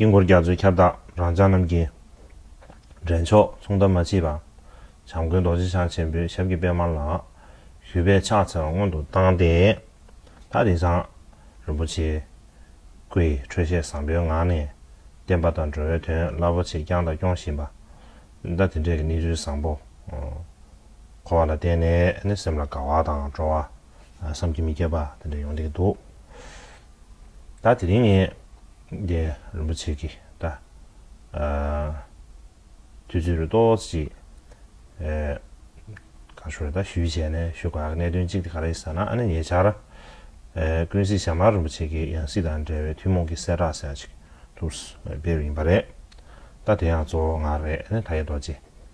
དཀྱིལ་འཁོར་རྒྱ་མཚོའི་ཁྱབ་བདག་རང་ཅག་རྣམས་ཀྱི། འདྲེན་མཆོག་མཚུངས་ཟླ་མ་མཆིས་པ། བྱམས་མགོན་རྡོ་རྗེ་འཆང་ཆེན་པོའི་ཞབས་ཀྱི་པདྨ་ལ། གུས་པས་ཕྱག་འཚལ་བ་སྔོན་དུ་བཏང་སྟེ། ད་རེས་ཀྱང། རིན་པོ་ཆེའི། སྐུ་ཡི་འཕྲོད་བཞེས་བཟང་པོའི་ངང་ནས། བསྟན་པ་དང་འགྲོ་བའི་དོན་རླབས་པོ་ཆེ་བསྐྱངས་དང་སྐྱོང་བཞིན་པ། ཟླ་དེ་འདྲའི་གནས་ཚུལ་བཟང་པོ། འཁོར་བ་ལ་བརྟེན་ནས་ནི་སེམས་ལ་དགའ་བ་དང་སྤྲོ་བ། བསམ་གྱིས་མི་ཁྱབ་པ་དེ་འདྲ་ཡོང་གི་འདུག་ད་དེ་རིང་ངས་རྒྱལ་རིན་པོ་ཆེ་གི་ད་དུས་ཚོད་རེ་ཏོག་ཅིག་ག་ཞོར་ད་ཞུས་བྱས་ནས་ཞུ་ག་གནད་དོན་གཅིག་དེ་ག་རེད་ཟེར་ན་ཨ་ནི་ཉེ་ཆར་ཀུན་གཟིགས་ཞྭ་དམར་རིན་པོ་ཆེ་གི་ཡང་སྲིད་དང་འབྲེལ་བའི་ཐུན་མོང་གི་གསལ་བསྒྲགས་ཟེར་ཡག་ཅིག་ཐུགས་སྤེལ་ཡིན་པ་རེད་ད་དེ་ཡང་གཙོ་བོ་ང་རེད་ཨ་ནི་ད་ཡེ་རྡོ་རྗེ།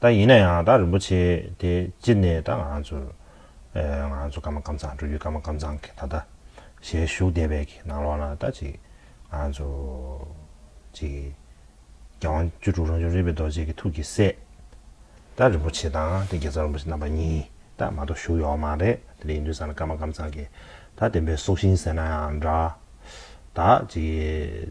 ད་ཡིན་ན་ཡང་ད་རིན་པོ་ཆེ་དེ་ཅི་ནས་ད་ང་ཚོར་ང་ཚོ་ཀརྨ་ཀམ་ཚང་འགྲོ་རྒྱུ་ཀརྨ་ཀམ་ཚང་གི་ད་ད་ཞལ་བཞུགས་བདེ་བས་ཀྱི་ནང་ལོགས་ན་ད་ཅིག་ང་ཚོ་ཅིག་རྒྱལ་དབང་བཅུ་དྲུག་རང་བྱུང་རིག་པའི་རྡོ་རྗེ་གི་ཐུགས་ཀྱི་སྲས་ད་རིན་པོ་ཆེ་དང་དེ་རྒྱལ་ཚབ་རིན་པོ་ཆེ་རྣམ་པ་གཉིས་ད་མ་གཏོགས་བཞུགས་ཡོག་མ་རེད་དེ་ལས་ཡིན་དུས་ས་ན་ཀརྨ་ཀམ་ཚང་གི་ད་བདེན་པའི་སྲོག་ཤིང་ཟེར་ན་ཡང་འདྲ་ད་ཅིག་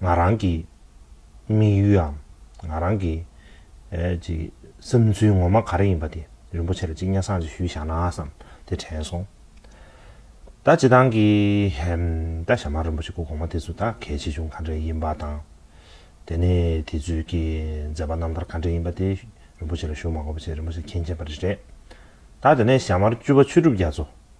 ང་རང་གི་དམིགས་ཡུལའམ་ང་རང་གི་བསམ་ཚུལ་ངོ་མ་ག་རེ་ཡིན་པ་དེ་རིན་པོ་ཆེ་ལ་གཅིག་སྙན་གསང་ཅིག་ཞུས་བཞག་ན་བསམ་དེ་དྲན་སོང། ད་བྱེད་སྟངས་ཀྱི་ད་ཞྭ་དམར་རིན་པོ་ཆེ་སྐུ་གོང་མ་དེ་ཚོ་ད་གལ་ཆེ་ཆུང་ག་འདྲ་ཡིན་པ་དང། དེ་ནས་དེ་ཚོས་ཀྱི་མཛད་པ་རྣམ་ཐར་ག་འདྲ་ཡིན་པ་དེ་རིན་པོ་ཆེ་ལ་ཞུ་མ་གོ་པ་བྱས་རིན་པོ་ཆེ་མཁྱེན་མཁྱེན་པ་རེ་རེད། ད་དེ་ནས་ཞྭ་དམར་བཅུ་པ་ཆོས་གྲུབ་རྒྱ་མཚོ་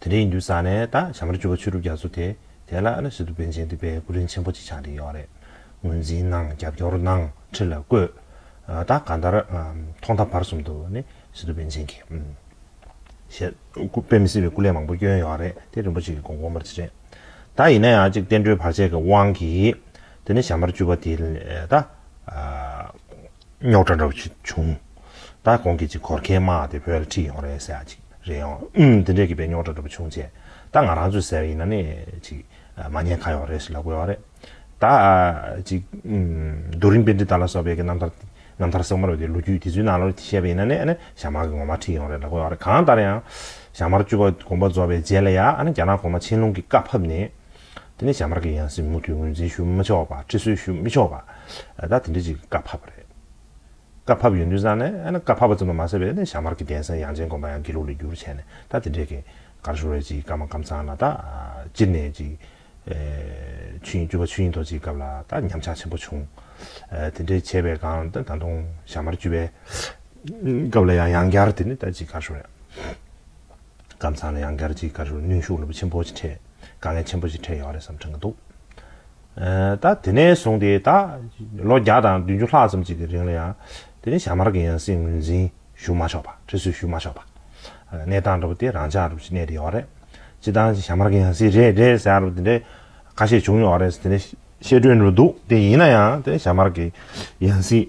དེ་འདྲའི་ཡིན་དུས་ས་གནས་དང་བྱམས་རི་བཅུ་བ་ཆོས་གྲུབ་རྒྱ་མཚོ་དེ་དེ་ལ་ཨ་ཞི་ཏུ་པན་ཆེན་འདུས་པའི་སྐུ་རིན་ཆེན་པོ་ཅིག་ཆགས་འདི་ཡོག་རེད་ངོས་འཛིན་གནང་རྒྱབ་སྐྱོར་གནང་ཁྲི་ལ་བཀོད། ད་ག་འདར་ཐོག་མཐའ་བར་གསུམ་དུ་ནི་ཨ་ཞི་ཏུ་པན་ཆེན་གྱི་ཞལ་དཔེ་མི་སྲིད་པའི་སྐུ་ལས་མང་པོ་བསྐྱོན་ཡོག་རེད་དེ་རིན་པོ་ཆེ་གི་དགོངས་དགོངས་པར་ཅི་རེད་ད་ཡིན་ན་ཡང་ཅིག་བསྟན་འགྲོའི་བར་ཆད་ཀྱི་དབང་གིས་དེ་ནི་བྱམས་རི་བཅུ་བ་དེ་ལ་ད། རྙོག་དྲ་འདྲ་བོ་ཞིག་བྱུང། ད་གོང་གི་ཅིག་གོར་ཁའི་དམག་དེ་བོད་ལ་ཁྲིད་ཡོང་རེད་ཟེར་བ་ཅིག་རེད་ཨང། ཨུན། དེ་འདྲའི་གི་པའི་རྙོག་དྲ་འདྲ་བོ་བྱུང་ཆེད། ད་ང་རང་ཚོས་ཟེར་བ་ཡིན་ན་ནི་ཅིག། མ་ཉེས་ཁ་ཡོག་རེད་ཞིག་ལབ་དགོས་བ་རེད། ད། ཅིག། རྡོ་རིང་དཔེ་འདྲི་དག་ལ་སོགས་པའི་གི་རྣམ་ཐར། རྣམ་ཐར་གསེག་མར་བའི་གི་ལོ་རྒྱུས་དེ་ཚོའི་ནང་ལོ་དེ་བཤད་པ་ཡིན་ན་ནི་ཨ་ནི་ཞྭ་དམར་གི་ངོ་མ་ཁྲིད་ཡོང་རེད་ལབ་དགོས་བ་རེད་གང་ལྟར་ཡང། ཞྭ་དམར་བཅུ་བ་དགོངས་པ་རྫོགས་པའི་རྗེས་ལ་ཡང་ཨ་ནི་རྒྱ་ནག་གོང་མ་ཆན་ལུང་གི་བཀའ་ཕབ་ནས། དེ་ནས་བྱ་དམར་གྱི་ཡང་སྲིད་མུ་མཐུད་ངོས་འཛིན་ཞུ་མི་ཆོག་པ་ཁྲི་སྲོལ་ཞུ་མི་ཆོག་པ། ད་དེ་འདྲའི་ཅིག་བཀའ་ཕབ་པ་རེད། བཀའ་ཕབ་ཡོད་འདུན་བསམ་ནས་ཨ་ན་བཀའ་ཕབ་པ་ཙམ་དུ་མ་ཟད་པའི་བྱ་དམར་གྱི་གདན་སའི་དབྱངས་ཅན་དགོན་པ་ཡང་དགེ་ལུགས་ལས་བསྒྱུར་བྱས་ནས་ད་དེ་འདྲའི་གེ་ཀར་ཤོར་བའི་ཅིག་བཀའ་མ་བཀའ་མཚང་ལ་ད་སྤྱིར་ནས་ཅིག་ཆུ་ཡིན་སྐྱུར་པ་ཆུ་ཡིན་ཐོག་ཅིག་སྐབས་ལ་ད་ཉམས་ཆག་ཆེན་པོ་བྱུང། དེ་འདྲའི་བྱས་པའི་སྒང་ད་ད་དུང་བྱ་དམར་བཅུ་པའི་སྐབས་ལ་ཡང་ཡང་བསྐྱར་དེ་ནི་ད་ཅིག་ཀར་ཤོར་ཡང། སྐམ་ཚང་ལ་ཡང་སྒར་གྱི་སྐར་གཞུང་གནོན་ཤུགས་ཆེན་པོ་ཞིག་འཕྲད། དཀའ་ངལ་ཆེན་པོ་ཞིག་འཕྲད་ཡོད་རེད་བསམ་འཁྲང་གི་འདུག་ད། དེ་ནས་བཟུང་སྟེ་ད། ལོ་བརྒྱ་དང་བདུན་ཅུ་ལྷག་ཙམ་ཅིག་གི་རིང་ལ་ཡང། དེ་རིང་ཞྭ་དམར་གྱི་ཡང་སྲིད་ངོས་འཛིན་ཞུ་མ་ཆོག་པ། ཁྲི་སྲོལ་ཞུ་མ་ཆོག་པ། གནས་སྟངས་འགྲོ་བ་དེ་རང་འཇགས་འགྲོ་བཞིན་གནས་དེ་ཡོད་རེད། སྤྱི་བཏང་ཞྭ་དམར་གྱི་ཡང་སྲིད་རེད་རེད་ཟེར་ཡ་རུ་དེ་འདྲའི་ཁ་ཞེ་བྱུང་ཡོད་རེད་དེ་འདྲའི་བཤད་སྒྲོས་འགྲོ་འདུག་དེ་ཡིན་ན་ཡང་དེ་ཞྭ་དམར་གྱི་ཡང་སྲིད་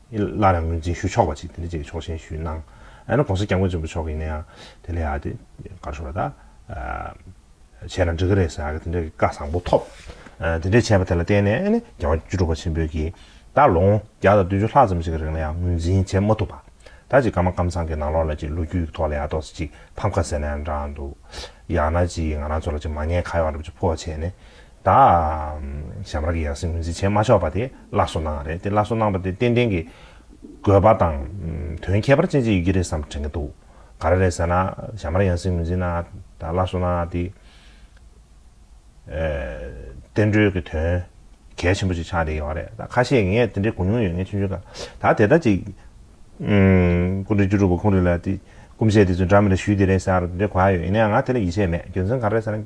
སླར་ཡང་ངོས་འཛིན་ཞུ་ཆོག་པ་ཅིག་དེ་འདྲ་ཅིག་ཆོག་མཆན་ཞུས་གནང། ཡང་ན་གོང་ས་སྐྱབས་མགོན་ཆེན་པོ་མཆོག་གིས་ཡིན་ན་ཡང་དེ་ལས་ཡག་དེ་གར་ཤོར་བ་དག་བྱས་ན་འགྲིག་གི་རེད་ཟེར་གི་དེ་འདྲ་གི་བཀའ་བཟང་པོ་ཐོབ། དེ་འདྲ་བྱས་པ་དེ་ལ་བརྟེན་ནས་ཨ་ནི་རྒྱལ་བ་བཅུ་དྲུག་པ་ཆེན་པོས་ཀྱིས་ད་ལོ་ངོ་བརྒྱ་དང་བདུན་ཅུ་ལྷག་ཙམ་ཞིག་གི་རིང་ལ་ཡང་ངོས་འཛིན་བྱེད་མ་ཐུབ་པ་དག་ཅིག་ཀརྨ་སྐམ་ཚང་གི་ནང་ལོགས་ལ་ཅིག་ལོ་རྒྱུས་ཀྱི་ཐོག་ལ་ཡག་ཐོག་སེ་ཅིག་ཕམ་ཁ་ཟེར་ན་ཡང་འདྲ་འདུག་ཡང་ན་ཅིག་ང་རང་ཚོ་ལ་ཅིག་མ་ཉེས་ཁ་གཡོག་འདྲ་པོ་ཅིག་ཕོག་བྱས་ནས་དང། ཞབས་ར་གི་ཡང་སྲིད་ངོས་འཛིན་བྱེད་མ་ཆོག་པ་དེ་སླར་གསོ་གནང་བ་རེད་དེ་སླར་གསོ་གནང་བ་དེ་ཏན་ཏན་གྱི་དགོས་པ་དང་དོན་ཁྱད་པར་ཅན་ཅིག་ཡོད་ཀྱི་རེད་བསམ་དྲན་གྱི་འདུག་ག་རེ་རེད་ཟེར་ན་ཞབས་ར་ཡང་སྲིད་ངོས་འཛིན་གནང་བ་དང་སླར་གསོ་གནང་བ་དེ་བསྟན་འགྲོའི་གྱི་དོན་གལ་ཆེན་པོ་ཅིག་ཆགས་བསྡད་ཡོད་རེད་ད་ཁ་ཤས་ངས་དེ་འདྲའི་གོ་མྱོང་ཡོད་ངེས་ཆུང་ཆུང་ག་ད་དེ་ལྟར་ཅིག་སྐུ་འབྲས་བཅུ་དྲུག་པ་ཁོང་རེད་ལ་དེ་སྐུ་མཆེད་དེ་ཚོས་འདྲ་མི་འདྲ་ཞུས་དེ་རེད་ཟེར་ཡ་རོ་དེ་འདྲའི་གོ་ཡ་ཡོད་ཡིན་ན་ཡང་ང་དེ་ལ་ཡིད་ཆེས་མེད་རྒྱུ་མཚན་ག་རེ་རེད་ཟེར་ན།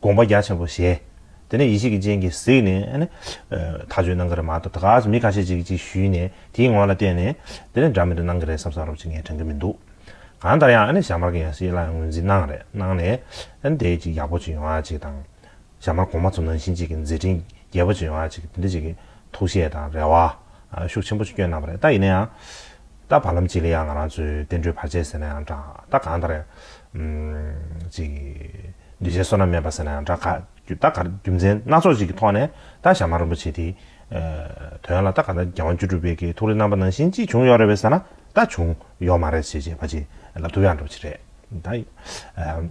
དགོངས་པ་རྒྱ་ཆེན་པོ་བཞེས། དེ་ནས་ཡེ་ཤེས་ཀྱི་སྤྱན་གྱིས་གཟིགས་ནས། ད་ཆོས་གནང་གི་རེད་མ་གཏོགས་ད་ག་ཟེ་མི་ཁ་ཤས་ཅིག་ཅིག་ཞུས་ནས་དེའི་ངོ་ལ་བལྟས་ནས། དེ་ནས་འདྲ་མི་འདྲ་གནང་གི་རེད་བསམ་བསམ་རོགས་ཅིག་ངས་དྲན་གི་མི་འདུག། གང་ལྟར་ཡང་ཞྭ་དམར་གྱི་ཡང་སྲིད་ལ་ངོས་འཛིན་གནང་རེད་གནང་ནས། དེའི་ཅིག་ཡག་པོ་ཅིག་ཡོང་བ་ཅིག་དང། ཞྭ་དམར་གོང་མ་ཚོ་ནང་བཞིན་ཅིག་གི་མཛད་འཕྲིན་རྒྱས་པོ་ཅིག་ཡོང་བ་ཅིག་དེ་འདྲ་ཅིག་གི་ཐུགས་བཞེད་དང་རེ་བ། ཤུགས་ཆེན་པོ་ཅིག་བསྐྱོན་གནང་བ་རེད་ད་ཡིན་ན་ཡང། ད་བར་ལམ་གཅིག་ལ་ཡང་ང་རང་ཚོས་བསྟན་འགྲོའི་བར་ཆད་ཟེར་ན་ཡང་འདྲ། ད་གང་ལྟར། ཅིག། འདུས་བྱས་བསོད་ནམས་མེད་པ་ཟེར་ན་ཡང་འདྲ། ག། ད་ག། རྒྱུ་མཚན་སྣ་ཚོགས་ཅིག་གི་ཐོག་ནས་ད་ཞྭ་དམར་རིན་པོ་ཆེ་དེའི། དོན་ལ་ད་ག་ད་རྒྱལ་དབང་བཅུ་དྲུག་པའི་གི་ཐུགས་རེ་རྣམ་པ་ནང་བཞིན་ཅིག་བྱུང་ཡོད་རེད་བས་ཟེར་ན་ད་བྱུང། ཡོད་མ་རེད་བྱས་བྱས་བ་ཅིག་ལ་ཐུགས་ཡག་འགྲོ་བྱེད་རེད། ད།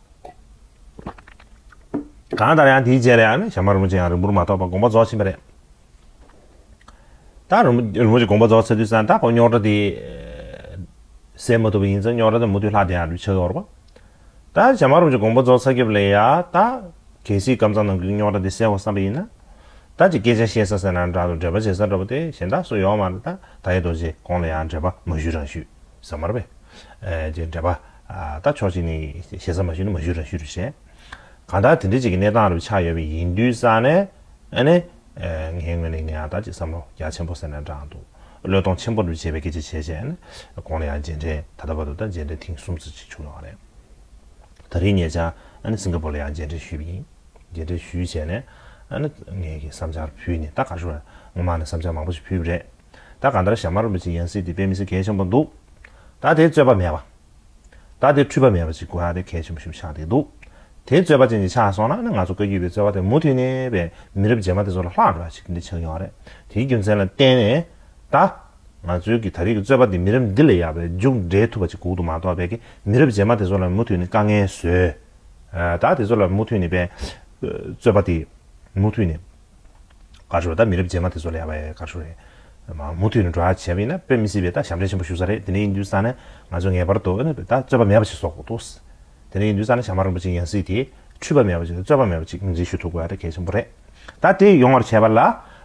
གང་ལྟར་ཡང་དེའི་རྗེས་ལ་ཡང་ནི་ཞྭ་དམར་རིན་པོ་ཆེ་ཡང་རིང་པོར་མ་ཐོགས་པར་དགོངས་པ་རྫོགས་ཕྱིན་པ་རེད། ད་རིན་པོ་ཆེ་དགོངས་པ་རྫོགས་ཚར་དུས་སང་ད་ཁོ་རྙོག་དྲ་དེ་སེལ་མ་ཐུབ་པ་ཡིན་ཙང་རྙོག་དྲ་དེ་མུ་མཐུད་ལྷག་བསྡད་ཡང་འགྲུལ་ཆགས་འོར་བ། ད་ཞྭ་དམར་རིན་པོ་ཆེ་དགོངས་པ་རྫོགས་ཚར་རྒྱབ་ལ་ཡང་ད་གལ་སྲིད་སྐམ་ཚང་ནང་གི་རྙོག་དྲ་དེ་སེལ་བར་བསམ་པ་ཡིན་ན། ད་ཅིག་སྐད་ཆ་བཤད་ས་ཟེར་ན་འདྲ་འདུག་འགྲེལ་པ་བྱེད་ས་འདྲ་པོ་དེ་གཞན་དག་སུ་ཡོང་བ་མ་རེད་ད་ད་ཡེ་རྡོ་རྗེ་ཁོང་ལ་ཡང་འགྲེལ་པ་མ་ཞུས་རང་ཞུས་ས་མར་བས། ཅེས་འགྲེལ་པ། ད་ཆོག་ཅིག་ནི་ཞེ་ས་མ་ཞུས་ན་མ་ཞུས་རང་ཞུས་རུ་བྱས། གང་ལྟར་དེ་འདྲའི་ཅིག་གི་གནས་སྟངས་རུ་ཆགས་ཡོད་པའི་ཡིན་དུས་ས་ནས་ཨ་ནི། ངའི་ངོས་ནས་ངའི་ཨ་ད་ཅིག་བསམ་བློ་རྒྱ་ཆེན་པོ་ཟེར་ནས་བསྒྲགས་འདུག་བློས་གཏོང་ཆེན་པོ་རུ་བྱས་པའི་སྐད་ཆ་བྱས་བྱས་ཨ་ནི། གོང་ལ་ཡང་མཇལ་འཕྲད་ད་ལྟ་བར་དུ་ད་མཇལ་འཕྲད་ཐེངས་གསུམ་ཙུག་ཅིག་བྱུང་ཡོང་བ་རེད། ད་རེས་ཉེ་ཆར་ཨ་ནི་སིང་ག་པོར་ལ་ཡང་མཇལ་འཕྲད་ཞུས་པ་ཡིན། མཇལ་འཕྲད་ཞུས་བྱས་ནས་ཨ་ནི། ངའི་གི་བསམ་འཆར་ཕུལ་ནས་ད་ག་ཞུ་བ་རེད་ངོ་མ་ནི་བསམ་འཆར་མང་པོ་ཞིག་ཕུལ་བ་རེད། ད་ག་འདྲ་ཞྭ་དམར་མོ་ཅིག་ཡང་སྲིད་དེ་པས་མི་ཚེ་གལ་ཆེན་པོ་འདུག། ད་དེ་རྩོད་པ་མེད་པ། ད་དེ་འཁྲུལ་པ་མེད་པ་ཅིག་དགོས་ཧ་དེ་གལ་ཆེན་པོ་ཞིག་ཆགས་བསྡད་འདུག། དེ་རྩོད་པ་ཅན་ཅིག་ཆགས་སོང་ན་ང་ཚོ་བཀའ་བརྒྱུད་པའི་རྩོད་པ་དེ་མུ་མཐུད་ནས་པའི་མི་རབས་རྗེས་མ་དེ་ཚོ་ལ་ལྷག་འགྲོ་བ་ཞིག་འདི་ཆགས་ཡོང་བ་རེད། དེའི་རྒྱུ་མཚན་ལ་བརྟེན་ནས། ད། ང་ཚོའི་གི་ད་རེས་ཀྱི་རྩོད་པ་འདི་མི་རབས་འདི་ལས་ཡག་པའི་མཇུག་འབྲས་ཐུབ་པ་ཅིག་གུག་ཏུ་མ་གཏོགས་པའི་གི་མི་རབས་རྗེས་མ་དེ་ཚོ་ལ་མུ་མཐུད་ནས་དཀའ་ངལ་བཟོས། ད་དེ་ཚོ་ལ་མུ་མཐུད་ནས་པའི། རྩོད་པ་དེ། མུ་མཐུད་ནས། དགའ་ཤོར་ད་མི་རབས་རྗེས་མ་དེ་ཚོ་ལ་ཡག་པའི་དགའ་ཤོར་རེད། མུ་མཐུད་ནས་འགྲོ་ཨ་བྱས་པ་ཡིན་ན་དཔེ་མི་སྲིད་པས་ད་ཞབས་འདྲེན་ཆེན་པོ་ཞུ་ས་རེད་དེ་ནས་ཡིན་དུས་ས་ནས་ང་ཚོས་ངེས་པར་དུ་ད་རྩོད་པ་མེད་པ་ཞིག་བཟོ་དགོས་འདུག་དེ་ནས་ཡིན་དུས་ས་ནས་ཞྭ་དམར་རིན་པོ་ཆེ་ཡང་སྲིད་དེ་འཁྲུལ་པ་མེད་པ་ཞིག་རྩོད་པ་མེད་པ་ཅིག་ངོས་འཛིན་ཞུ་ཐུབ་དགོས་ཨ་གལ་ཆེན་པོ་རེད་ད་དེ་ཡོང་བར་བྱས་པ་ལ་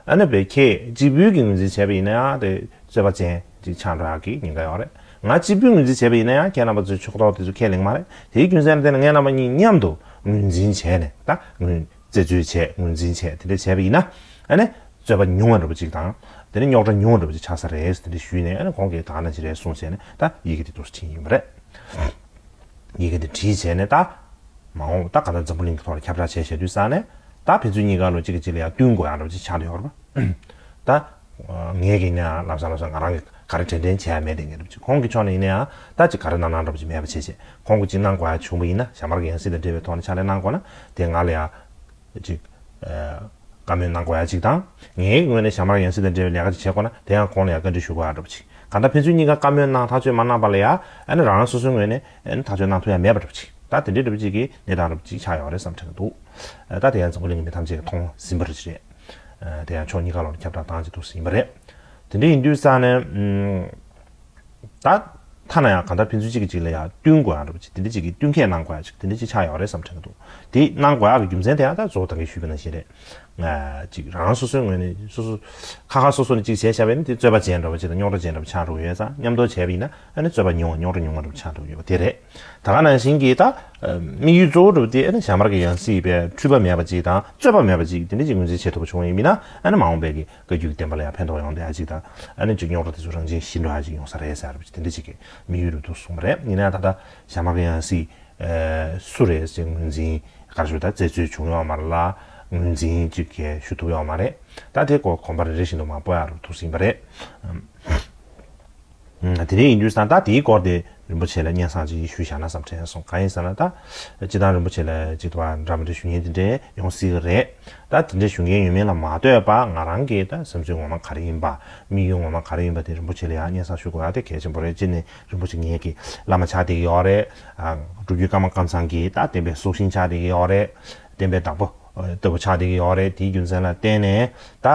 ཨ་ནུ་བས་ཁྱེད་གཅིག་བུས་ཀྱིས་ངོས་འཛིན་བྱས་པ་ཡིན་ན་ཡང་དེ་རྩོད་པ་ཅན་ཅིག་ཆགས་འགྲོ་ཨ་གི་ཉེན་ཁ་ཡོང་རེད་ང་གཅིག་བུས་ངོས་འཛིན་བྱས་པ་ཡིན་ན་ཡང་ཁྱེད་རྣམ་པ་ཚོའི་ཕྱོགས་གཏོགས་དེ་ཚོ་ཁས་ལེན་གི་མ་རེད་དེའི་རྒྱུ་མཚན་ལ་བརྟེན་ནས་ངེད་རྣམ་པ་གཉིས་མཉམ་དུ་ངོས་འཛིན་བྱས་ནས་ད་ངོས། རྩད་གཅོད་བྱས་ངོས་འཛིན་བྱས་དེ་འདྲ་བྱས་པ་ཡིན་ན་ཨ་ནི་རྩོད་པ་ཉུང་བ་འགྲོ་བ་ཅིག་དང་དེ་ནི་རྙོག་དྲ་ཉུང་བ་འགྲོ་བ་ཅིག་ཆགས་ས་རེད་དེ་འདྲ་ཞུས་ནས་ཨ་ནི་གོང་གི་དག་ན་ཅི་རེད་གསུངས་བྱས་ནས་ད་ཡི་གེ་འདི་འདུག་ཕྱིན་ཡིན་པ་རེད། ཡི་གེ་འདི་བྲིས་བྱས་ནས་ད་མ་འོངས་ད་ག་ད་འཛམ་བུ་གླིང་གི་ཐོག་ལ་ཁྱབ་བསྒྲགས་བྱས་བྱས་དུས་ས་ནས་ད་ཕན་ཚུན་གཉིས་ཀ་ལོ་གཅིག་གི་གཅིག་ལ་ཡང་བསྟུན་དགོས་ཡང་འགྲོ་བ་ཅིག་ཆགས་འདུག་ཡོད་རེད་པ། ད། ངེད་ཀྱིས་ཡིན་ནའང་ལམ་སང་ལམ་སང་ང་རང་གིས་ག་རེ་དྲན་དྲན་བྱས་ཡ་མེད་དེ་ངེད་སྒྲུབ་ཅིག་ཁོང་གི་ཕྱོགས་ནས་ཡིན་ནའང་ལྟ་ཅིག་ག་རེ་གནང་གནང་སྒྲུབ་ཅིག་མེད་པ་བྱས་བྱས་ཁོང་གིས་ཅིག་གནང་དགོས་ཡ་བྱུང་བ་ཡིན་ན་ཞྭ་དམར་གྱི་ཡང་སྲིད་དང་འབྲེལ་བའི་ཐོག་ནས་ཕྱག་ལས་གནང་དགོས་ན་དེ་ང་ལ་ཡང། ཅིག། བཀའ་མོལ་གནང་དགོས་ཡ་ཅིག་དང། ངེད་ཀྱི་ངོས་ནས་ཞྭ་དམར་ཡང་སྲིད་དང་འབྲེལ་བའི་ལས་ཀ་ཅིག་བྱེད་དགོས་ན་དེ་ཡང་ཁོང་ལ་ཡང་བཀའ་འདྲི་ཞུ་དགོས་ཡ་སྒྲུབ་ཅིག་ག་འདྲ་ཕན་ཚུན་གཉིས་ཀ་བཀའ་མོལ་གནང་ཐག་གཅོད་མ་གནང་བ་ལ་ཡང་ཨ་ནི་རང་རང་སོ་སོའི་ངོས་ནས་ཐག་གཅོད་གནང་ཐུབ་ཡ་མེད་པ་སྒྲུབ་ཅིག་ད་དེ་འདྲའི་སྒྲུབ་བྱེད་ཀྱི་གནས་སྟངས་སྒྲུབ་ཅིག་ཆགས་ཡོང་བ་རེད་བསམ་དྲན་གྱི་འདུག་ད་དེ་ཡང་འཛམ་བུ་གླིང་གི་མི་ཐམས་ཅད་ཀྱིས་མཐོང་ཟིན་པ་རེད། དེ་ཡང་ཕྱོགས་གཉིས་ཀ་ལོར་ཁྱབ་བསྒྲགས་སྟངས་ཇི་ཐུག་སུ་ཡིན་པ་རེད། དེ་འདྲ་ཡིན་དུས་ས་ནས། ད་ཐ་ན་ཡང་གང་ལྟར་ཕན་ཚུན་གཅིག་གི་གཅིག་ལ་ཡང་བསྟུན་དགོས་ཡག་འགྲོ་བ་ཅིག་དེ་འདྲ་ཅིག་གི་བསྟུན་མཁས་གནང་དགོས་ཡག་ཅིག་དེ་འདྲ་ཅིག་ཆགས་ཡོག་རེད་བསམ་དྲན་གྱི་འདུག་དེ་གནང་དགོས་ཡག་གི་རྒྱུ་མཚན་དེ་ཡང་ད་གཙོ་བོ་ད་གིན་ཞུས་པའི་ནང་བཞིན་རེད། ཅིག་རང་སོ་སོའི་ངོས་ནས་སོ་སོ། ཁ་ཁ་སོ་སོ་ནས་ཅིག་བྱས་ཤག་པས་ནི་དེ་རྩོད་པ་བྱས་འགྲོ་བ་ཅིག་དང་རྙོག་དྲ་བྱས་འགྲོ་བ་ཆགས་འགྲོ་གི་ཡོད་ཙང་མཉམ་དུ་བྱས་པ་ཡིན་ན་ཨ་ནི་རྩོད་པ་ཉུང་བ་རྙོག་དྲ་ཉུང་བ་འགྲོ་བ་ཆགས་འགྲོ་གི་ཡོད་པ་དེ་རེད། ད་ག་ནང་བཞིན་གྱི་དམིགས་ཡུལ་གཙོ་བོ་གྲུབ་སྟེ་ཞྭ་དམར་གྱི་ཡང་སྲིད་པས་འཁྲུལ་པ་མེད་པ་ཅིག་དང་རྩོད་པ་མེད་པ་ཅིག་དེ་འདྲ་ཅིག་ངོས་འཛིན་བྱེད་ཐུབ་པ་བྱུང་བ་ཡིན་མིན་ན་མ་འོངས་པའི་བཀའ་རྒྱུད་ཀྱི་བསྟན་པ་ལ་ཡང་ཕན་ཐོགས་ཡོང་བསྡད་ཅིག་དང་ཅིག་རྙོག་དྲ་དེ་ཚོ་རང་བཞིན་ཞི་འགྲོ་ཨ་ཅིག་ཡོང་ས་རེད་ཟེར་བ་དེ་འདྲ་ཅིག་གི་དམིགས་ཡུལ་རེད་འདུག་གསུངས་པ་རེད་ཡིན་ན་ཡང་ད་ལྟ་ཞྭ་དམར་གྱི་ཡང་སྲིད་སུ་རེད་ཅེས་ངོས་འཛིན་དགར་ཞུ་དང་བཙལ་འཚོལ་བྱུང་ཡོད་མ་རེད་ལ་ངོས་འཛིན་ཅིག་གི་ཞུ་ཐུབ་ཡོད་མ་རེད་ད་དེ་སྐོར་གོམ་པ་རེ་རེ་བཞིན་དུ་མང་པོ་ཡང་རུ་ཐུག་ཟིན་པ་རེད། དེ་རིང་ཡིན་དུས་ད་ལྟ་དེའི་སྐོར་དེ་རིན་པོ་ཆེ་ལ་སྙན་གསང་ཅིག་ཞུ་བཞག་ན་བསམ་དྲན་སོང་གང་ཡིན་ཟེར་ན་ད་སྤྱི་བཏང་རིན་པོ་ཆེ་ལ་ཅིག་ཏུ་བ་འདྲ་མི་འདྲ་ཞུ་མཁན་དེ་འདྲས་ཡོང་སྲིད་གི་རེད་ད་དེ་འདྲས་ཞུ་མཁན་ཡོད་མེད་ལ་མ་ལྟོས་པ་ང་རང་གི་ད་སེམས་ཚོད་ངོ་མ་ག་རེ་ཡིན་པ་དམིགས་ཡུལ་ངོ་མ་ག་རེ་ཡིན་པ་དེ་རིན་པོ་ཆེ་ལ་ཡང་སྙན་གསང་ཞུ་དགོས་ཡ་དེ་གལ་ཆེན་པོ་རེད་སྤྱིར་ནས་རིན་པོ་ཆེ་ངེད་ཀྱི་བླ་མ་ཆགས་བསྡད་ཀྱི་ཡོད་རེད་སྒྲུབ་བརྒྱུད་ཀརྨ་ཀརྨ་ཚང་གི་ད་བསྟན་པའི་སྲོག་ཤིང་ཆགས་བསྡད་ཀྱི་ཡོད་རེད་བསྟན་པའི་བདག་པོ་ལྟ་བུ་ཆགས་བསྡད་ཀྱི་ཡོད་རེད་དེའི་རྒྱུ་མཚན་ལ་བརྟེན་ནས་ད།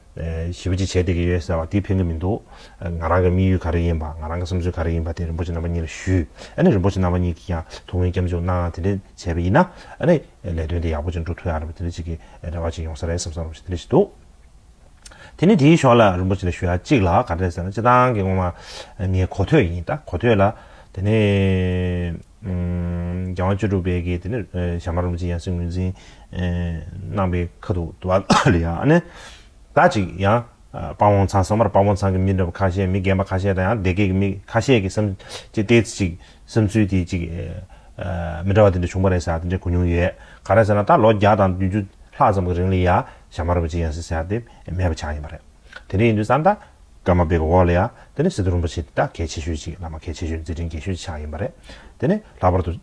ཞེས་པ་ཅིག་བྱས་བསྡད་ཀྱི་ཡོད་ཟེར་བ་དེ་ཕན་གྱི་མི་འདུག་ང་རང་གི་དམིགས་ཡུལ་ག་རེ་ཡིན་པ་ང་རང་གི་བསམ་ཚུལ་ག་རེ་ཡིན་པ་དེ་རིན་པོ་ཆེ་རྣམ་པ་གཉིས་ལ་ཞུས་ཨ་ནི་རིན་པོ་ཆེ་རྣམ་པ་གཉིས་ཀྱིས་ཀྱང་དོ་དངོས་སྐྱབས་འཇུག་གནང་དེ་འདྲས་བྱས་པ་ཡིན་ན་ཨ་ནི་ལས་དོན་དེ་ཡག་པོ་ཅིག་འགྲུབ་ཐུབ་ཡག་རེད་པ་དེ་འདྲས་ཅིག་གི་རེ་བ་ཅིག་ཡོང་ས་རེད་བསམ་བསམ་རུང་ཞིག་དེ་འདྲས་ཞིག་འདུག་དེ་ནི་དེའི་ཞོར་ལ་རིན་པོ་ཆེ་ལ་ཞུ་ཡག་ཅིག་ལ་ག་རེ་ཟེར་ན་སྤྱི་བཏང་གི་ངོ་མ་ངའི་གོ་ཐོས་ཡིན་ད་གོ་ཐོས་ལ་དེ་ནི། རྒྱལ་དབང་བཅུ་དྲུག་པའི་དགེ་དེ་ནི་བྱམས་པ་རིན་པོ་ཆེ་ཡང་སྲིད་ངོས་འཛིན་གནང་པའི་ཁ་ཐུག་ཏུ་བ་ལི་ཨ་ནི་ད་ཅིག་ཡང་དཔའ་བོང་ཚང་སོང་བར་དཔའ་བོང་ཚང་གི་མི་འདྲ་བ་ཁ་ཤས་མི་རྒན་པ་ཁ་ཤས་དང་ཡང་སྡེ་དགེ་གི་མི་ཁ་ཤས་ཀྱི་སེམས་ཀྱི་ལྟས་ཚེ་ཅིག་བསམ་ཚུལ་དེ་ཅིག་མི་འདྲ་བ་དེ་འདྲ་བྱུང་བ་རེད་ཟེར་དེ་འདྲ་གོ་མྱོང་ཡོད་ག་རེ་ཟེར་ན་ད་ལོ་བརྒྱ་དང་བདུན་ཅུ་ལྷག་ཙམ་གྱི་རིང་ལ་ཡང་བྱམས་པ་རིན་པོ་ཆེ་ཡང་སྲིད་ཟེར་དེ་མེད་པ་ཆགས་ཡིན་པ་རེད་དེ་འདྲ་ཡིན་དུས་སམ་ད། སྒྲ་མ་སྦས་པའི་འོག་ལ་ཡང་དེ་ནི་སིནྡྷུ་རིན་པོ་ཆེ་འདི་དག་གལ་ཆེ་ཤོས་ཅིག་བླ་མ་གལ་ཆེ་ཤོས་མཛད་འཕྲིན་རྒྱས་ཤོས་ཀྱི་ཕྱག་ཡིན་པ་རེད། དེ་ནས་ལྷག་པར་དུ།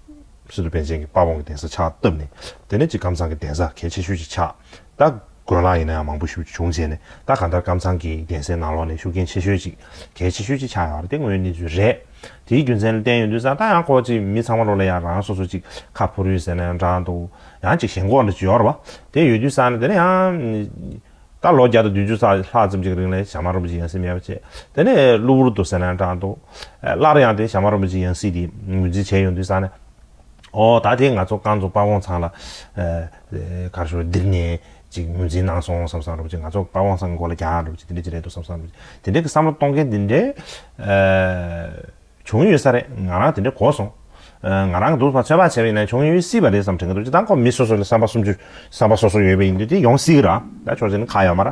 སིནྡྷུ་པཎ་ཆེན་གྱི་དཔའ་བོང་གི་གདན་ས་ཕྱག་བཏབ་ནས། དེ་ནས་ཅིག་ཀམ་ཚང་གི་གདན་ས་གལ་ཆེ་ཤོས་ཀྱི་ཕྱག་བཏབ། དགོན་ལག་ཡིན་ན་ཡང་མང་པོ་བཞུགས་བྱུང་བྱས་ནས་ད་ག་འདར་ཀམ་ཚང་གི་གདན་སའི་ནང་ལོགས་ནས་བཞུགས་མཁན་ཆེ་ཤོས་ཅིག་གལ་ཆེ་ཤོས་ཀྱི་ཕྱག་ཡིན་པ་རེད་དེ་དངོས་གནས་གནས་ཚུལ་རེད། དེའི་རྒྱུ་མཚན་ལ་བརྟེན་ཡོད་འདུག་བསམ་ད་ཡང་ཁོ་ཅིག་མི་ཚང་མ་ལོགས་ལ་ཡང་རང་སོ་སོ་ཅིག་ཁ་ཕུར་ཡོད་ཟེར་ན་ཡང་འདྲ་འདུག་ཡང་ཅིག་ཞེན་ཁོག་ལ་བྱོར་བ་དེ་ཡོད་དུས་བསམ་ན་དེ་ནི་ཡང། ད་ལོ་བརྒྱ་དང་བདུན་ཅུ་ས་ལྷག་ཙམ་གྱི་རིང་ལས་བྱམས་མ་རིན་པོ་ཆེ་ཡང་སྲིད་མེད་པ་བྱས། དེ་ནས་གློ་བུར་དུ་ཟེར་ན་འདྲ་འདུག། སླར་ཡང་དེ་བྱམས་མ་རིན་པོ་ཆེ་ཡང་སྲིད་དེ་ངོས་འཛིན་བྱས་ཡོང་དུས་ས་ནས། ཨོ་ད་དེ་ང་ཚོ་རྐང་ཚོ་དཔའ་བོང་ཚང་ལ། གར་ཞོར་འདིར་ནས་ཅིག་ངོས་འཛིན་གནང་སོང་བསམ་བསམ་རིན་པོ་ཆེ་ང་ཚོ་དཔའ་བོང་ཚང་མགོ་ལ་རྒྱག་རིན་པོ་ཆེ་དེ་འདྲ་ཅིག་རེད་འདུག་བསམ་བསམ་རིན་པོ་ཆེ་དེ་འདྲའི་བསམ་བློ་གཏོང་མཁན་དེ་འདྲའི། བྱུང་ཡོད་ས་རེད་ང་རང་དེ་འདྲའི་གོ་སོང། ང་རང་གི་སྡུག་བསྔལ་ཚོད་དཔག་བྱས་པ་ཡིན་ན་བྱུང་ཡོད་སྲིད་པ་རེད་བསམ་དྲན་གྱི་འདུག་ཅི་ལྟར་ཁོ་མི་སོ་སོ་ལ་བསམ་པ་སུམ་ཅུ་བསམ་པ་སོ་སོ་ཡོད་པ་ཡིན་དུས་དེ་ཡོང་སྲིད་ར་ད་ཆོག་ཟིན་ཁག་ཡོད་མ་ར་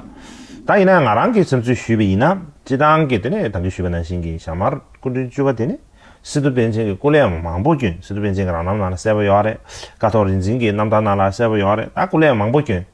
ད་ཡིན་ན་ཡང་ང་རང་གིས་བསམ་ཚུལ་ཞུས་པ་ཡིན་ན་སྤྱི་བཏང་གི་དེ་ནས་དམ་འབུལ་ཞུས་པ་ནང་བཞིན་གྱི་ཞྭ་དམར་སྐུ་མགྲོན་བཅུ་བ་དེ་ནི་སི་ཏུ་པཎ་ཆེན་གྱི་སྐུ་ལས་མང་པོ་བསྐྱོན་སི་ཏུ་པཎ་ཆེན་གྱི་རང་རྣམ་ནང་ལ་གསལ་པོ་ཡོད་རེད་ཀ་ཐོག་རིག་འཛིན་གྱི་རྣམ་ཐར་ནང་ལ་གསལ་པོ་ཡོད་རེད་ད་སྐུ་ལས་མང་པོ་བསྐྱོན།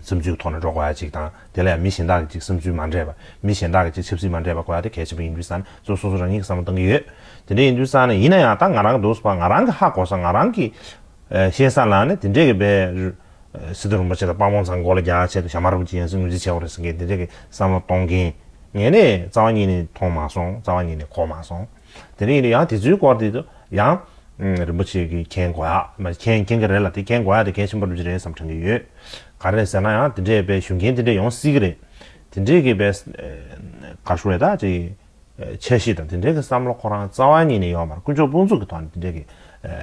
བསམ་ཚུལ་གྱི་ཐོག་ནས་འགྲོ་དགོས་པ་གཅིག་དང། དེ་ལ་ཡང་མི་གཞན་དག་གི་གཅིག་བསམ་ཚུལ་མ་འདྲེས་པ། མི་གཞན་དག་གི་གཅིག་ཆབ་སྲིད་མ་འདྲེས་པ་གོ་ཡ་དེ་གལ་ཆེན་པོ་ཡིན་དུས་སང་ནས་ཚོ་སོ་སོ་རང་ཉིད་ཀྱི་བསམ་བློ་གཏང་གི་ཡོད། དེ་འདྲ་ཡིན་དུས་སང་ནས་ཡིན་ན་ཡང་ད་ང་རང་གི་འདུག་ས་པ་ང་རང་གི་ཧ་གོ་ས་ང་རང་གི་ཤེས་ས་ལ་ནི་དེ་འདྲས་ཀྱི་བའི། སི་ཏུ་རིན་པོ་ཆེ་དང་དཔའ་བོང་ཚང་མགོ་ལ་རྒྱག་ཆེད་དུ་ཞྭ་དམར་རུབ་ཀྱི་ཡང་སྲིད་ངོས་འཛིན་བྱས་བ་རེད་ཟེར་མཁན་དེ་འདྲས་ཀྱི་བསམ་བློ་གཏོང་མཁན། ངས་ནི་རྩ་བ་ཉིད་ནས་མཐོང་མ་སོང་རྩ་བ་ཉིད་ནས་གོ་མ་སོང། དེ་རིང་ཡང་དེ་ཚོའི་སྐོར་དེ་དུ་ཡང། རིན་པོ་ཆེ་གིས་མཁྱེན་དགོས་ཡ། མཁྱེན་མཁྱེན་གྱི་རེད་ལ་དེ་མཁྱེན་དགོས་ཡ་དེ་མཁྱེན་ཤིན་པོ་རིན་པོ་ཆེ་རེད་བསམ་དྲན་གྱི་ཡོད། ག་རེད་ཟེར་ན་ཡང་དེ་འདྲས་པའི་ཞུ་མཁན་དེ་འདྲས་ཡོང་སྲིད་ཀྱི་རེད། དེ་འདྲས་ཀྱི་བས། ག་ཞུ་རེད་ད་ཅེ། འཆར་གཞི་དང་དེ་འདྲས་ཀྱི་བསམ་བློ་ཁོ་རང་རྩ་བ་ཉིད་ནས་ཡོད་མ་རེད་དཀོན་མཆོག་དཔུང་ཚོགས་ཀྱི་ཐོག་ནས་དེ་འདྲས་ཀྱི།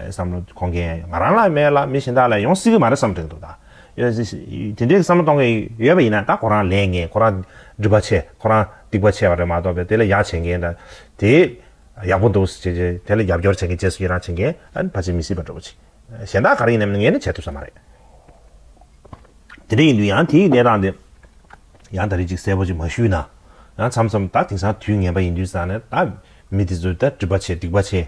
བསམ་བློ་གོ་མཁན་ང་རང་ལ་མེད་ལ་མི་གཞན་དག་ལ་ཡོང་སྲིད་ཀྱི་མ་རེད་བསམ་དྲན་གྱི་འདུག་ད། དེ་འདྲའི་བསམ་བློ་གཏོང་མཁན་ཡོད་པ་ཡིན་ན་ད་ཁོ་རང་ལས་ངན་ཁོ་རང་སྒྲིབ་པ་ཆེ་ཁོ་རང་སྡིག་པ་ཆེ་བ་རེད་མ་གཏོགས་པས་དེ་ལ་ཡག་བྱེད་མཁན་དང་དེ་ཡག་པོ་འདུག་ཟེར་བྱས་དེ་ལ་རྒྱབ་སྐྱོར་བྱེད་མཁན་རྗེས་སུ་ཡི་རང་བྱེད་མཁན་ཨ་ཕ་བྱེད་མི་སྲིད་པ་འདྲ་བོ་ཆེ་གཞན་དག་ག་རེ་ཡིན་ནམ་ངས་ནི་བྱེད་ཐུབ་ས་མ་རེད། དེ་འདྲ་ཡིན་དུས་ཡང་དེའི་གནས་སྟངས་དེ་ཡང་ད་རེས་ཅིག་གསལ་པོ་ཅིག་མ་ཞུས་ན་ཡང་འཚམས་སམ་ད་དེང་སང་དུས་ངན་པ་ཡིན་དུས་སང་ནས་ད་མི་དེ་ཚོ་ད་སྒྲིབ་པ་ཆེ་སྡིག་པ་ཆེ།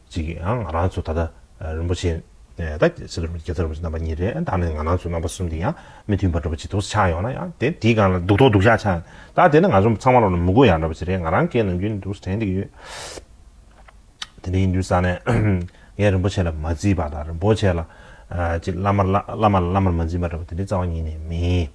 ཅིག་གིས་ཡང་ང་རང་ཚོ་ད་ལྟ་རིན་པོ་ཆེ་ནས་ད་གལ་སྲིད་རིན་པོ་ཆེ་གེ་སར་རིན་པོ་ཆེ་རྣམ་པ་གཉིས་རེད་ད་ནི་ང་རང་ཚོ་རྣམ་པ་གསུམ་དེ་ཡང་མི་མཐུན་པ་འདྲ་པོ་ཅིག་དུག་སྲིད་ཆགས་ཡོང་ན་ཡང་དེ་དེའི་སྒང་ལ་སྡུག་ཐོག་སྡུག་ཤག་ཆགས་ཡོང་ད་དེ་ནི་ང་ཚོ་ཚང་མ་ལོ་ན་མི་དགོས་ཡག་འདྲ་པོ་ཅིག་རེད་ང་རང་སྐད་ནང་རྒྱུན་དུ་དྲན་བསྡད་ཡོད། དེ་འདྲ་ཡིན་དུས་ས་ནས་ངས་རིན་པོ་ཆེ་ལ་མ་བརྩིས་པ་དང་རིན་པོ་ཆེ་ལ་ཅིག་བླ་མ་ལ་བླ་མ་ལ་བླ་མར་མ་འཛིན་པ་འདྲ་པོ་དེ་འདྲའི་རྩ་བ་ཉིད་ནས་མིན།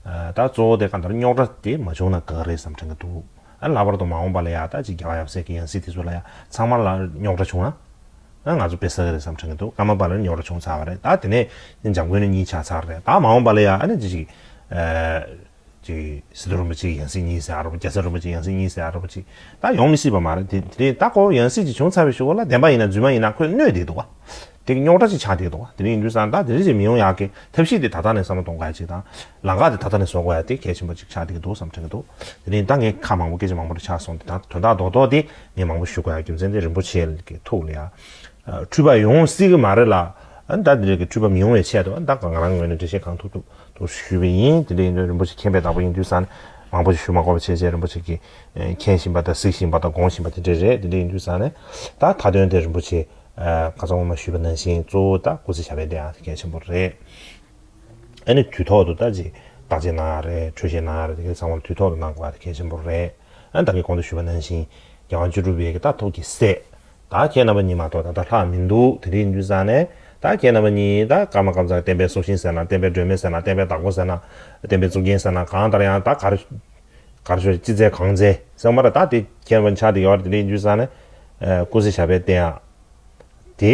ད་གཙོ་བོ་དེ་གང་ལྟར་རྙོག་དྲ་དེ་མ་བྱུང་ན་དགའ་གི་རེད་བསམ་དྲན་གྱི་འདུག་ལྷག་པར་དུ་མ་འོངས་པ་ལ་ཡག་རྟགས་ཅིག་རྒྱག་པ་ཡག་བསད་ཀི་ཡང་སྲིད་དེ་ཚོ་ལ་ཡང་ཚང་མར་ལ་རྙོག་དྲ་བྱུང་ན་ང་ཚོ་དཔེ་ཟ་གི་རེད་བསམ་དྲན་གི་འདུག་སྔ་མ་པ་ལ་རྙོག་དྲ་བྱུང་ཚར་བ་རེད་ད་དེ་ནས་འཇམ་མགོན་ནས་གཉིས་ཆགས་ཚར་རེད་ད་མ་འོངས་པ་ལ་ཡང་ཨ་ནི་ཅི་ཞིག་སི་ཏུ་རིན་པོ་ཆེ་ཡང་སྲིད་གཉིས་བསད་ཨ་རོ་པ་རྒྱ་ཚ་རིན་པོ་ཆེ་ཡང་སྲིད་གཉིས་བསད་ཨ་རོ་པ་ཅིག་ད་ཡོང་མི་སྲིད་པ་མ་རེད་དེ་རིང་ད་ཁོ་བོ་ཡང་སྲིད་ཅིག་བྱུང་ཚར་བའི་ཞོར་ལ་བདེན་པ་ཡིན་ན་རྫུན་མ་ཡིན་ན་ཁོས་གནོད་བསྡད་འདུག་དེ་གི་རྙོག་དྲ་ཅིག་ཆགས་བསྡད་འདུག་དེ་རིང་ཡིན་དུས་སང་ད་དེ་འདྲ་ཅིག་མི་ཡོང་ཡག་གི་ཐབས་ཤེས་དེ་ད་ལྟ་ནས་བསམ་བློ་གཏོང་ག་ཡ་ཅིག་དང་ལང་ཀ་དེ་ད་ལྟ་ནས་བཟོ་དགོས་ཡ་དེ་གལ་ཆེན་པོ་གཅིག་ཆགས་བསྡད་ཀྱི་འདུག་བསམ་དྲན་གྱི་འདུག་དེ་རིང་ད་ངས་ཁ་མང་པོ་སྐད་ཆ་མང་པོ་རེ་ཆགས་སོང་དེ་དག་དོན་དག་རྡོག་རྡོག་དེ་ངས་མང་པོ་ཞུ་དགོས་ཡ་རྒྱུ་མཚན་དེ་རིན་པོ་ཆེ་གི་ཐུགས་ལ་ཡ་འཁྲུལ་པ་ཡོང་སྲིད་གི་མ་རེད་ལ་ད་དེ་རིགས་ཀྱི་འཁྲུལ་པ་མི་ཡོང་བའི་ཆེད་དུ་ད་ང་རང་ངོས་ནས་འགྲེལ་བཤད་གང་ཐུབ་ཐུབ་ཐུབ་ཞུས་པ་ཡིན་དེ་འདྲ་ཡིན་དུས་རིན་པོ་ཆེ་མཁྱེན་པའི་བདག་པོ་ཡིན་དུས་ས་ནས་མང་པོ་ཞིག་ཞུ་མ་དགོས་པ་བྱས་བྱས་རིན་པོ་ཆེ་གི་མཁྱེན་བཞིན་པ་དང་གཟིགས་བཞིན་པ་དང་དགོངས་བཞིན་པ་དེ་འདྲ་རེད་དེ་འདྲ་ཡིན་དུས་ས་ནས་ད་མཐའ་དོན་དེ་རིན་པོ་ཆེ་ག་ཚོད་ངོ་མ་ཞུས་པ་ནང་བཞིན་གཙོ་བོ་ད་སྐུ་ཚེ་ཞབས་པད་བརྟན་ཡ་དེ་གལ་ཆེན་པོ་རེད། ཨ་ནི་དུས་ཐོག་ཏུ་ལྟ་ཅིག་བརྟག་དཔྱད་གནང་ཡག་རེད་འཕྲོས་བཤད་གནང་ཡག་རེད་དེ་གའི་ཚང་མར་དུས་ཐོག་ཏུ་གནང་དགོས་པ་དེ་གལ་ཆེན་པོ་རེད་ཨ་ནི་བདག་གིས་གོང་དུ་ཞུས་པ་ནང་བཞིན་རྒྱལ་དབང་བཅུ་དྲུག་པའི་ཀྱི་རྟགས་ཐོབ་ཀྱི་སྲས་བདག་ཁྱེད་རྣམ་པ་གཉིས་མ་གཏོགས་ད་ལྟ་ལྷག་མི་འདུག་དེ་འདྲའི་འཇུ་བཟང་ནས་བདག་ཁྱེད་རྣམ་པ་གཉིས་ད་སྐར་མ་སྐར་མཚར་བསྟན་པའི་སྲོག་ཤིང་ཟེར་ན་བསྟན་པའི་སྒྲོན་མེ་ཟེར་ན་བསྟན་པའི་བདག་པོ་ཟེར་ན་བསྟན་པའི་གཙུག་རྒྱན་ཟེར་ན་གང་ལྟར་ཡང་ད་གར་གར་ཤོག་ཅི་མཛད་གང་མཛད་སེམས་མ་ར་བདག་དེ་ཁྱེད་རྣམ་པ་ཆགས་དེ་ཡོད་དེ་འདྲའི་འཇུ་བཟང་ནས་ཀུན་གཟིགས་བྱ་བའི་བསྟན་ཡག་དེ།